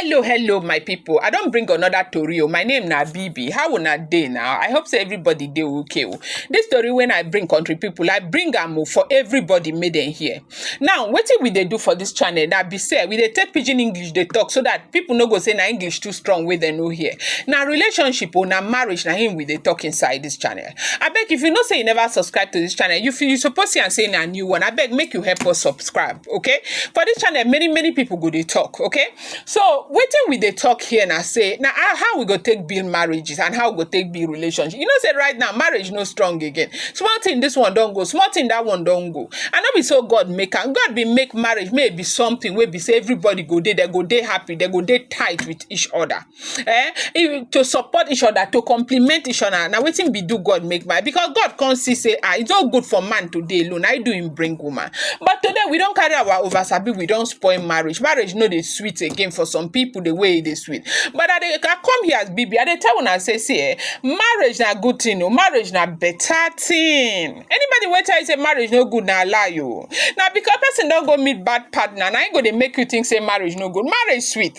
hello hello my people. i don't bring another tori o oh. my name na bibi how una dey now i hope say everybody dey okay o oh. dis tori when i bring country people, i bring am o oh, for everybody made in here. Now wetin we dey do for dis channel na be sey we dey take pidgin English dey talk so dat pipu no go sey na English too strong wey dem no hear. Na relationship oh, na marriage na im we dey talk inside dis channel. Abeg if you know sey you never subscribe to dis channel, you fit you suppose see am sey na new one, abeg make you help us subscribe okay. For dis channel many many pipu go dey talk okay. So wetin we dey talk here na say na how how we go take build marriages and how we go take build relationship. You know say right now marriage no strong again. Small thing this one don go, small thing that one don go. And no be so God make am. God bin make marriage may e be something wey be say everybody go dey, they go dey happy, they go dey tight with each other. eh if to support each other to complement each other na wetin be do God make man because God come see say ah e no good for man to dey alone na him do him bring woman but today we don carry our over sabi we don spoil marriage marriage no dey sweet again for some people the way e dey sweet but I dey I come here as Bibi I dey tell una say see eh marriage na good thing o marriage na better thing anybody wey tell you say marriage no good na lie o na because person don go meet bad partner na him go dey make you think say marriage no good marriage sweet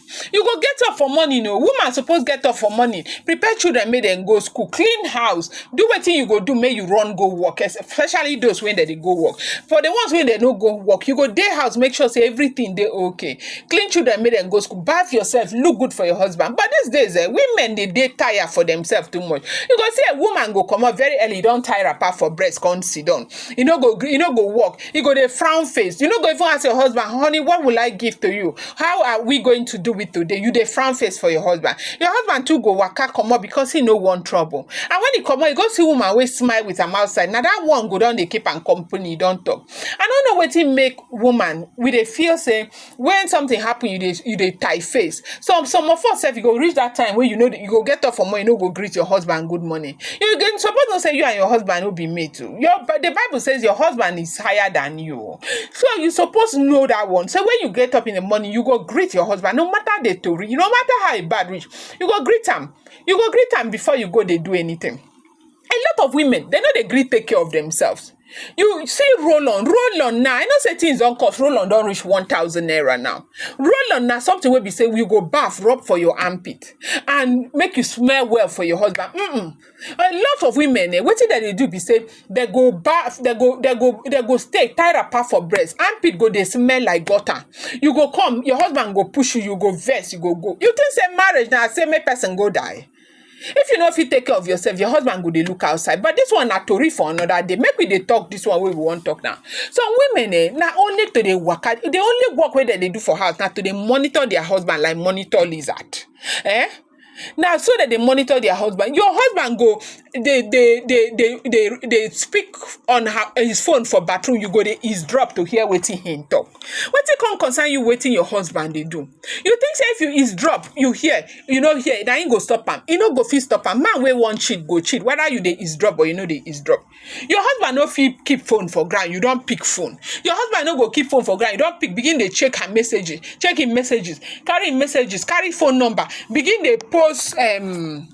You go get up for morning o, woman suppose get up for morning, prepare children make dem go school, clean house, do wetin you go do make you run go work especially those wey dem dey go work. For the ones wey dem no go work, you go dey house make sure sey everything dey okay, clean children make dem go school, baff yourself, look good for your husband but these days um women dey dey tire for themselves too much. You go see um woman go comot very early don tie wrapper for breast come sit down, e no go gree e no go work You go dey frown face. You no go even ask your husband, honey, what will I give to you? How are we going to do it today? You dey frown face for your husband. Your husband too go waka comot because he no want trouble. And when he comot, he go see woman wey smile with am outside. Na that one go don dey keep am company, he don talk. I no know wetin make woman, we dey feel say when something happen, you dey you dey tie face. Some some of us sef e go reach that time wey you know you go get up for morning, you no go greet your husband good morning. You go suppose know say you and your husband no be mate o. Your but the Bible says your husband is higher than you o. So you suppose know that one. So when you get up in the morning, you go greet your husband no matter the tori, no matter how e bad reach, you go greet am. You go greet am before you go dey do anything. a lot of women they no dey gree take care of themselves you see roll on roll on now i know say things don cost roll on don reach one thousand naira now roll on na something wey be say you go baff rub for your armpit and make you smell well for your husband mm a lot of women eh wetin dem dey do be say dem go baff dem go dem go dem go stay tie wrapper for breast armpit go dey smell like gutter you go come your husband go push you you go vex you go go you think say marriage na say make person go die If you no fit take care of yourself, your husband go dey look outside. But this one na tori for another day. Make we dey talk this one wey we wan talk now. Some women eh, na only to dey waka. The only work wey dem dey do for house na to dey monitor their husband like monitor lizard. Eh? Now, so that they monitor their husband. Your husband go they they they they they, they speak on her, his phone for bathroom. You go they eavesdrop to hear waiting him talk. Waiting can concern you waiting your husband they do. You think say if you eavesdrop, you hear you no hear na him go stop am e no go fit stop am man wey wan cheat go cheat whether you dey eavesdrop or you no dey eavesdrop your husband no fit keep phone for ground you don pick phone your husband no go keep phone for ground you don pick begin dey check her messages check him messages carry him messages carry phone number begin dey post um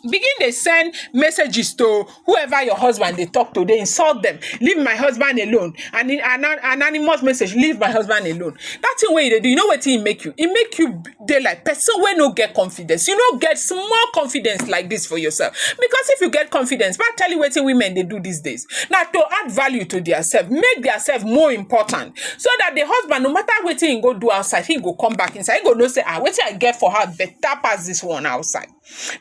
begin dey send messages to whoever your husband dey talk to dey insult them leave my husband alone and in and an anonymous message leave my husband alone that thing wey you dey do you know wetin e make you e make you b- dey like person wey no get confidence you no get small confidence like this for yourself because if you get confidence ma tell you wetin women dey do these days na to add value to their self make their self more important so that the husband no matter wetin he go do outside he go come back inside he go know say ah wetin i get for her better pass this one outside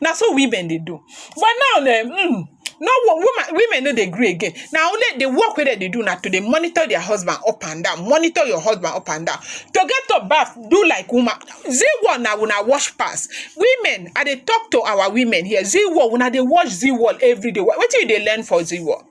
na so women dey do but now na um no wo- woman women no dey gree again na only the work wey dem dey do na to dey monitor their husband up and down monitor your husband up and down to get to baff do like woman zee wall na una wash pass women i dey talk to our women here zee wall una dey wash zee wall everyday Wha- wetin you dey learn for zee wall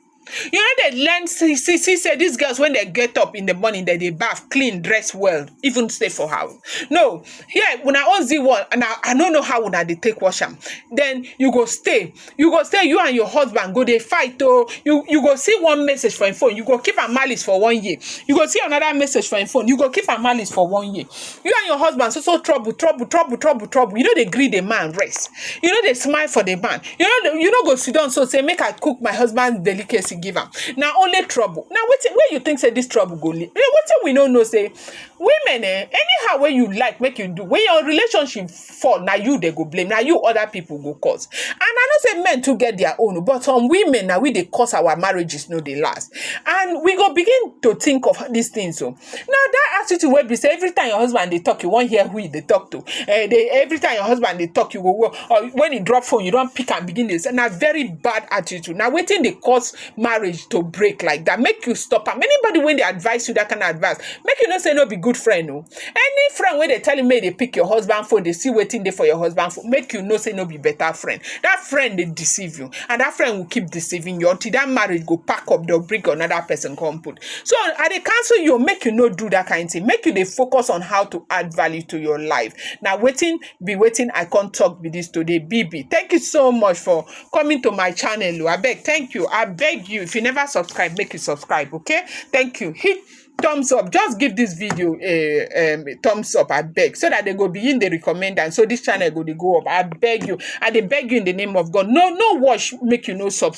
You no dey learn see see see say these girls when they get up in the morning, they dey bath, clean, dress well, even stay for house. No, here una own Z one and I, I no know how una dey take wash am. Then you go stay, you go stay, you and your husband go dey fight oh. You you go see one message for your phone, you go keep am malice for one year. You go see another message for your phone, you go keep am malice for one year. you and your husband so so trouble trouble trouble trouble trouble you no dey gree the man rest you no dey smile for the man you no dey you no go sit down so say make i cook my husband delicacy give am na only trouble na wetin wey you think say this trouble go lead wetin we no know say women eh anyhow wey you like make you do when your relationship fall na you dey go blame na you other people go cause and i know say men too get their own but some women na we dey cause our marriages no dey last and we go begin to think of these things o Now that attitude wey be say every time your husband dey talk, you wan hear who he dey talk to. Eh, dey, every time your husband dey talk, you go wo- or when he drop phone, you don pick and begin dey say na very bad attitude. Na wetin dey cause marriage to break like that. Make you stop am. Anybody when they advise you that kind of advice, make you no say no be good friend. No, any friend when they tell you make they pick your husband phone, they see waiting there for your husband phone. Make you no say no be better friend. That friend they deceive you, and that friend will keep deceiving you until that marriage go pack up. They'll bring another person come put. So I dey counsel you make you no do that kind thing. Make you dey focus on how to add value to your life. Now waiting, be waiting. I can't talk with this today. BB, thank you so much for coming to my channel. Oh. I beg, thank you. I beg you. If you never subscribe, make you subscribe. Okay, thank you. Hit thumbs up just give this video a um, thumbs up I beg so that they go begin the recommend and so this channel go they go up I beg you I they beg you in the name of God no no watch make you no subscribe